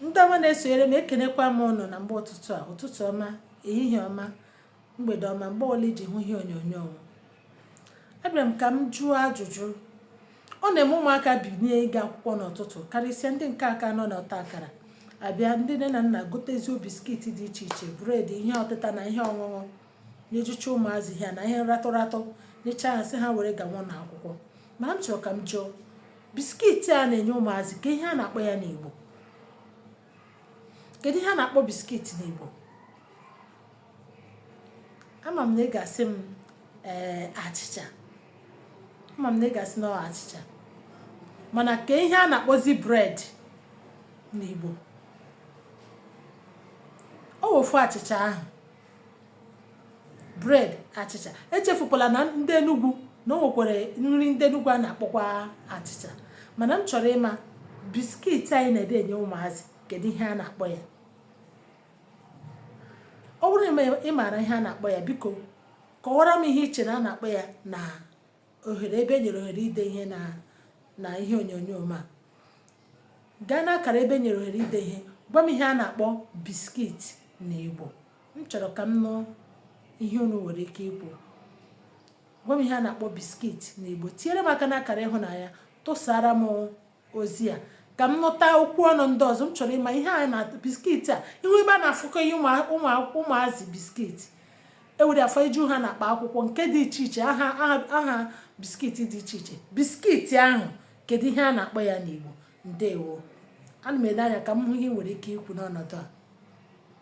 ndị ọma na-esonyere m ekenekwa m ụnụ na mgbe ụtụtụ a ụtụtụ ọma ehihie ọma mgbede ọma mgbe ọbụla i ji hụ ihe onyonyo m abịara m ka m jụọ ajụjụ ọ na-eme ụmụaka binie ịga akwụkwọ n'ụtụtụ karịsịa ndị nke a ka nọ n'ọta akara abịa ndị nne na nna gotezuo biskit dị iche iche bred ihe ọtịta na ihe ọṅụṅụ na-ejucha ụmụazị ihe na ihe ratụ ratụ nyecha ha sị ha were gawa na akwụkwọ ma m chọrọ ka m jụọ biskit a na-enye ụmụazị kee ihe a na-akpọ ya n'Igbo kedu ihe a na-akpọ biskit n'Igbo ama m na ị ga-asị m ee eh, achịcha ama m na ị ga-asị na achịcha mana kee ihe a na-akpọzi bred n'Igbo ọ wụfu achịcha ahụ bred achịcha echefukwala na ndị enugwu na o nwekwara nri ndị enugwu a na-akpọkwa achịcha mana m chọrọ ịma biskit anyị na-adị enye ụmụazị kedu ihe a na-akpọ ya ọ bụrụ na ị maara ihe a na-akpọ ya biko kọwara m ihe i chere a na-akpọ ya na ohere ebe e nyere ohere ide ihe na na ihe onyonyo m a gaa n'akara ebe e nyere ohere ide ihe gwa m ihe a na-akpọ biskit na Igbo m chọrọ ka m nụ ihe unu nwere ike ikwu gwa m ihe a na-akpọ biskit na Igbo tinyere m aka n'akara ịhụnanya tụsara m ozi a ka m nụta okwu ọnụ ndị ọzọ m chọrọ ịma ihe a na biskiti a ị hụ ebe a na-afụkọ ihe ụmụazị biskiti e were afaju ha n'akpa akwụkwọ nke dị iche iche aha aha biskiti dị iche iche biskiti ahụ kedu ihe a na-akpọ ya n'Igbo ndewo ana m ele anya ka m hụ ihe i nwere ike ikwu n'ọnọdụ a